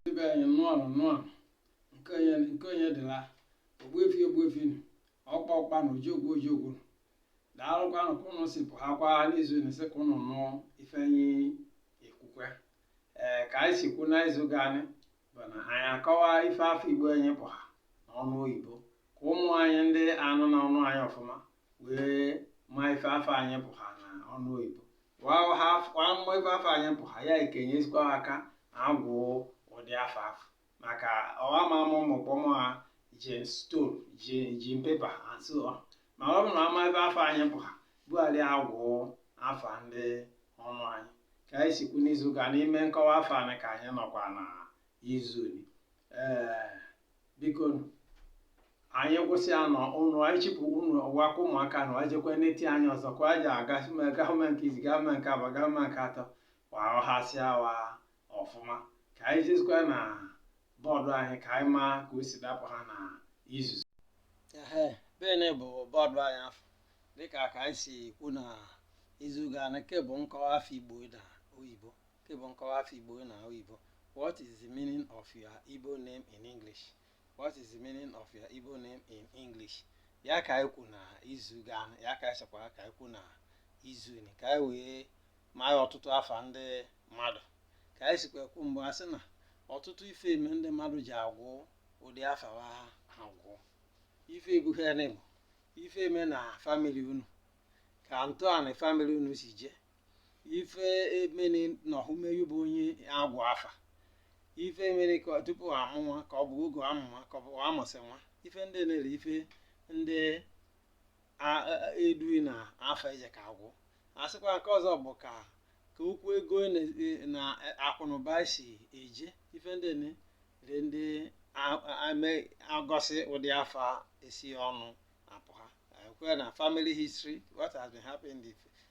ndị be anyị nnọọ nụ nnọọ nụ nke onye nke onye dịla ogbuefi ogbuefi nụ ọkpa ọkpa na ojiogwu ojiogwu nụ daalụkwanụ ka ụnụ si pụhakwa n'izu ni sị ka ụnụ nụọ ife anyị ekwukwe ee ka anyị si kwu n'izu gaanị bụ na anyị akọwa ife afa igbo anyị pụha na ọnụ oyibo ka ụmụ anyị ndị anụ na ọnụ anyị ọfụma wee ma ife afa anyị pụha na ọnụ oyibo Wa- ha af- kwa ma ife afa anyị pụha ya ekenyezikwa ha aka agwụ ụdị afa afụ maka ọha ma ama ụmụ kpọmọ ha ji stone ji paper and so on. ma ọ bụ na ama ife afa anyị pụha bugharịa agwụ afa ndị ọnụ anyị ka anyị sikwu n'izu gaanị ime nkọwa afa anyị ka anyị nọkwa na izu ni. ee biko anyị kwụsịa na ụnụ anyị chịpụ ụnụ gwakwa ụmụaka na wajekwe n'eti anyị ọzọ kwa aja agahụme nke izizi gahụme nke abụọ gahụme nke atọ kọwahasịa wa ọfụma ka anyị jezikwa na bọọdụ anyị ka anyị maa ka o si dapụha na izuzu bene bụ bọọdụ anyị afụ dịka ka anyị si kwu na izu gaanị nke bụ nkọwa afa igbo na oyibo Nke bụ nkọwa afa Igbo na oyibo. What is the meaning of your Igbo name in English? What is the meaning of your Igbo name in English? Ya ka anyị kwu na izu gaanị ya ka anyị sịkwara ka anyị kwu na izu ni ka anyị wee maa ya ọtụtụ afa ndị mmadụ ka anyị sikwa ekwu mgbe a sị na ọtụtụ ife eme ndị mmadụ ji agwụ ụdị afa ha agwụ ife ebughị ya na-egbu ife eme na family unu ka ntọala family unu si jee ife emeni nọhumeyu bụ onye agwụ afa ife emeni ka tupu amụ nwa ka ọ bụ oge amụ nwa ka ọ bụ amụsị nwa ife ndị ni re ife ndị a- a- edui na afa eje ka agwụ asịkwa nke ọzọ bụ ka ka okwu ego na- e- na akụnụba si eje ife ndị ni re ndị a- a- ame agọsị ụdị afa esi ọnụ apụ ha ekwere na family history what has been happening in the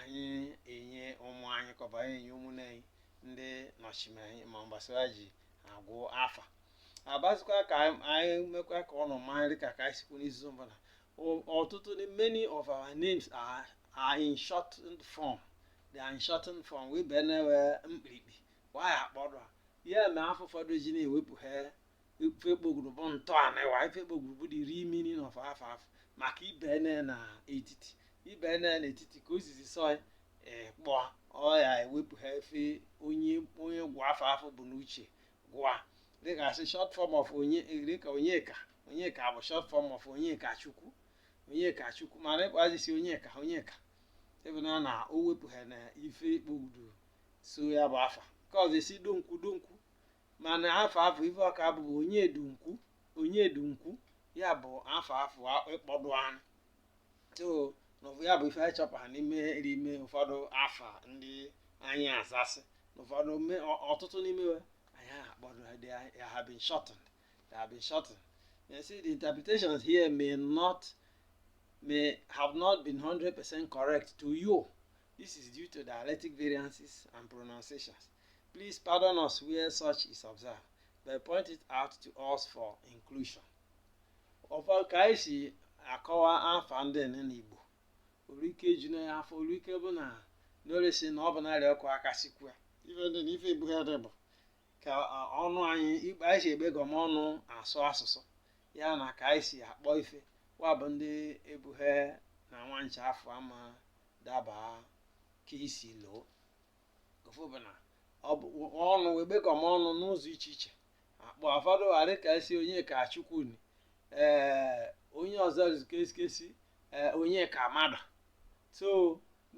anyị enye ụmụ anyị ka ọ bụ anyị enye ụmụnne anyị ndị nọchiri anyị ma gbasara ji agwụ afa abazikwa ka anyị mekwa ka ụnụ mara dịka ka anyị sikwu n'izizi bụ na ọtụtụ many of our names are, are in shortened form they are in shortened form wee bee na-ewe mkpirikpi wa akpọrọ ya mee afa ụfọdụ ji na-ewepụha ife kpoguru bụ ntọala wa ife kpoguru bụ the real meaning of afa afụ maka ibe ene na etiti ibe ene na etiti ka ozizi sọ ịkpọ ọya ewepụha ife onye onye gwụ afa afụ bu n'uche gwa dịka asị short form of onye dịka onyeka onyeka bụ short form of onyeka chukwu onyeka chukwu mana ịkpọazisi onyeka onyeka ebe na na o wepụha na ife kpoguru so ya bụ afa nke ọzọ esi donkwu donkwu mana afa afụ ife ọ ka bụ onye edu nkwu onye edu nkwu ya bụ afa afụ ịkpọdụ anụ so na ọ bụ ya bụ ife anyị chọpụtara n'ime n'ime ụfọdụ afa ndị anyị azasị na ụfọdụ me- ọ- ọtụtụ n'ime ha, anyị akpọdụ ha they are- they have been shortened they have been shortened you see the interpretations here may not may have not been 100% correct to you this is due to dialectic variances and pronunciations Please pardon us where such is observed, but point it out to us for inclusion. Ọfọ ka anyị si akọwa afa ndị n'Igbo. Olu ike ju na ya afọ, olu ike bụ na n'olesi na ọ bụ narị ọkụ aka sikwa. Ife ndị na ife ebugharị bụ ka a, ọnụ anyị ikpe anyị si egbegọm ọnụ asụ asụsụ ya na ka anyị si akpọ ife wa bụ ndị ebughe na nwancha afọ ama daba ka i si loo. ofu bụ na ọ bụ ọnụ egbegọm ọnụ n'ụzọ iche iche akpọ ụfọdụ ghara ka e si onye ka chukwu ni ee onye ọzọ zikesi ee onye ka mmadụ so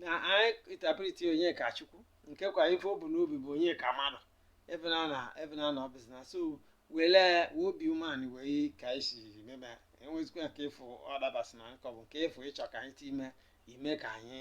na anyị interpreti onye ka chukwu nke kwa ife o bu n'obi bụ onye ka mmadụ ebe na na ebe na na ọ bụzi na so wele obi umeanị wee ka anyị si meme enwezikwa nke ị fụ ọ dabasị na nke ọ bụ nke ị fụ ị chọ ka anyị ti ime ime ka anyị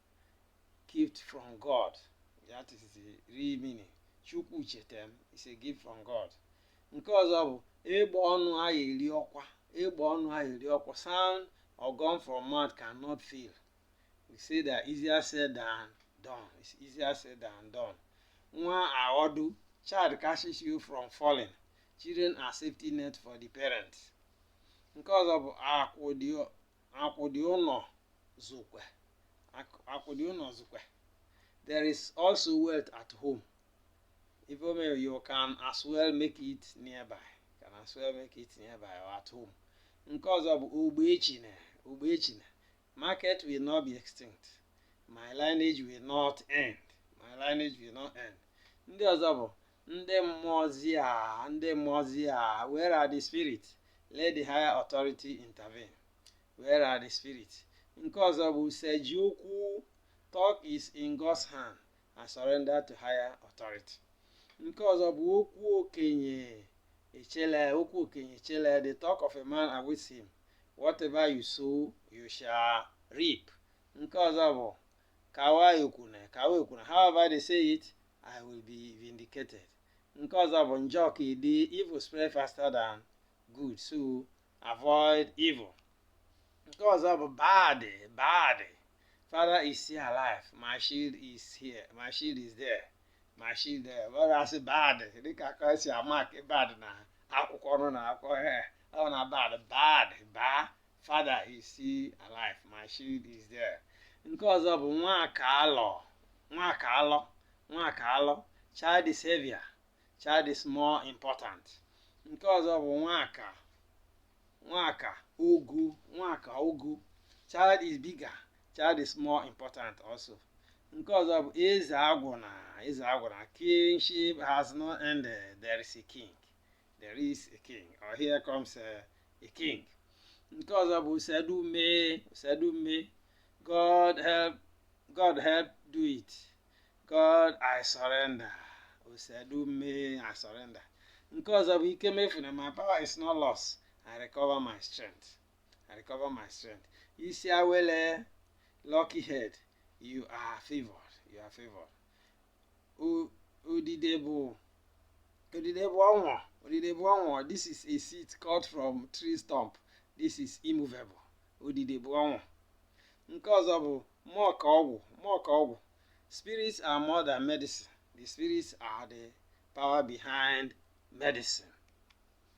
gift from God. That is the real meaning. Chukwu chetem is a gift from God. Nke ọzọ bụ egbe ọnụ ayị eri ọkwa. Egbe ọnụ ayị eri ọkwa. Sound of gun from mouth cannot fail. We say that easier said than done. It's easier said than done. Nwa aghọdụ child catches you from falling. Children are safety net for the parents. Nke ọzọ bụ akụ dị Akụ dị ụnọ zukwe. Akụ dị ụnọ zukwe. There is also wealth at home. If you can as well make it nearby. Can as well make it nearby or at home. Nke ọzọ bụ ogbe echine. Ogbe echine. Market will not be extinct. My lineage will not end. My lineage will not end. Ndị ọzọ bụ Ndị mmụọzi a, ndị mmụọzi a, where are the spirit? Let the higher authority intervene. Where are the spirit? Nke ọzọ bụ seji okwu talk is in God's hand and surrender to higher authority. Nke ọzọ bụ okwu okenye echele okwu okenye echele the talk of a man awaits him whatever you sow you shall reap. Nke ọzọ bụ ka wa ekwuna ka wa ekwuna however they say it I will be vindicated. Nke ọzọ bụ njọ ka ịdị evil spread faster than good so avoid evil. Nke ọzọ bụ Badị Badị father is still alive my shield is here my shield is there my shield there were asị Badị dịka ka esi amak Badị na akwụkwọ ọrụ na akwụkwọ he ọ na bad bad baa father is still alive my shield is there nke ọzọ bụ nwa ka alọ nwa ka alọ nwa ka alọ child is heavier child is more important nke ọzọ bụ nwa ka nwa ka ogo nwa ka ogo child is bigger child is more important also nke ọzọ bụ eze agwụna eze agwụna kingship has not ended there is a king there is a king or here comes a the king nke ọzọ bụ usedume usedume god help god help do it god i surrender usedume i surrender nke ọzọ bụ ike mefuna my power is not lost i recover my strength i recover my strength isi awele lucky head you are favored you are favored O- odide bụ odide bụ ọnwụ odide bụ ọnwụ this is a seat cut from tree stump this is immovable odide bụ ọnwụ nke ọzọ bụ mmụọ ka ọgwụ mmụọ ka ọgwụ spirits are more than medicine the spirits are the power behind medicine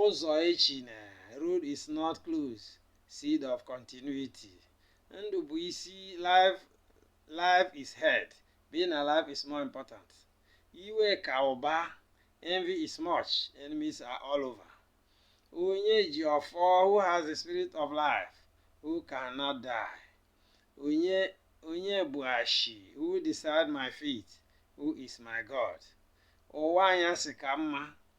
ụzọ echina road is not closed seed of continuity ndụ bụ isi life life is head being alive is more important iwe ka ụba envy is much enemies are all over onye ji ọfọ who has the spirit of life who cannot die onye onye bụ ashi who decide my fate who is my god ụwa anyasị ka mma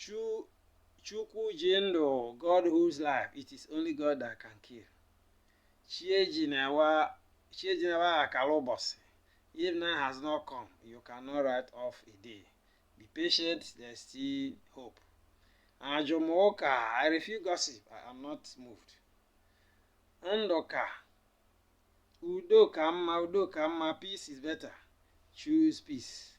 Chu Chukwu ji ndụ God holds life it is only God that can kill. Chiejine wa Chiejine wa akalụ ụbọsị. If night has not come, you cannot write off a day. Be patient, there's still hope. Ajụmụka, I refuse gossip. I am not moved. Ndoka, Udo ka mma, Udo ka mma, peace is better. Choose peace.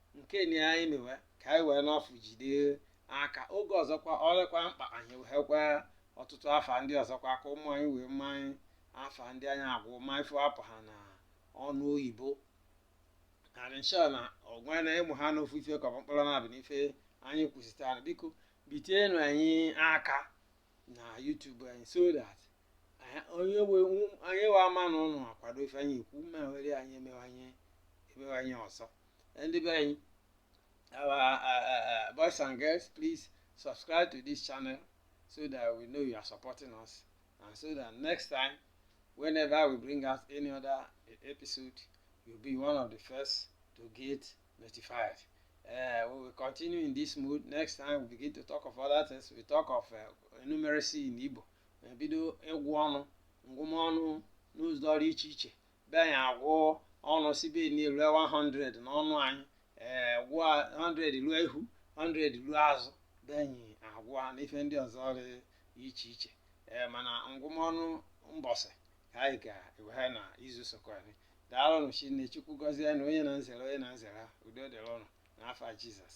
nke na anyị mewe ka anyị wee n'ofu jide aka oge ọzọkwa ọ rịkwa mkpa anyị wehekwa ọtụtụ afa ndị ọzọkwa ka ụmụ anyị wee maa afa ndị anyị agụ ma ife ọ pụha na ọnụ oyibo and nsha na ọgwa na ịmụ ha n'ofu ife ka ọ bụ mkpụrụ na-abụ n'ife anyị kwụsịtara biko bitienu anyị aka na YouTube anyị so that anyị- onye we nw- anyị we ama na ụnụ akwado ife anyị ekwu ma were anyị emewanye emewanye ọzọ ndị be anyị our uh, uh, uh, boys and girls please subscribe to this channel so that we know you are supporting us and so that next time whenever we bring out any other e- episode you'll be one of the first to get notified. Uh, we will continue in this mood. Next time we begin to talk of other things. We talk of uh, numeracy in Igbo. Uh, bido ịgwụ ọnụ ngụmọnụ n'ụzọ dị iche iche be anyị agwụ ọnụ si be ni rue 100 n'ọnụ anyị ee gwụọ 100 rue ihu 100 rue azụ be anyị agwụ na ife ndị ọzọ dị iche iche ee mana ngụmọnụ mbọsị ka anyị ga-eweghe na izu sokwa anyị daalụnụ shinne chukwu gọzie anyị onye na nzere onye na nzere udo dịrị ụnụ n'afa jizọs